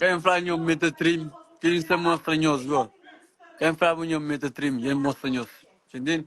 Ken fla nhos mi ta trim, ken sa mostra nhos go. Ken fla bu nhos mi ta trim, ken mostra nhos. Txintin.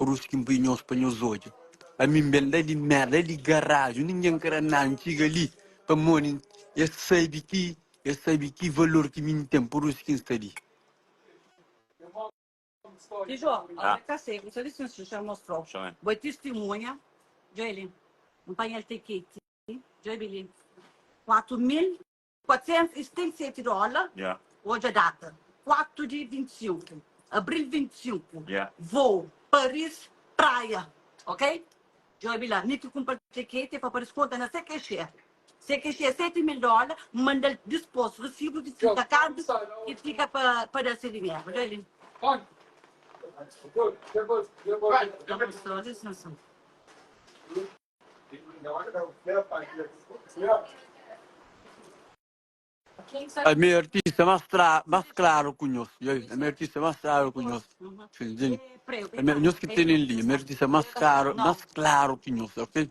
Rus ki N pui nhos pa nhos odja Ami N ben da li merda li garaju Ningen kre na N txiga li Pamodi es sabe ki Es sabe ki valor ki mi N ten Pur isu ki N sta li 400 i 77 dóla odja data 4 di 25 abril 25 vôu paris praia ok djobe bai la mi ki kunpra txekete pa paris konta na cqxe cqxe 7 mil dóla mandal dispos risibu di trinta karbi ki fika pa pa da se dinheru odja li É mi artista mas claro, mas claro ku nhos, é mi artista mas claro ku nhos, é mi nhos ki tene li, é mi artista mas claro, mas claro ki nhos, ok.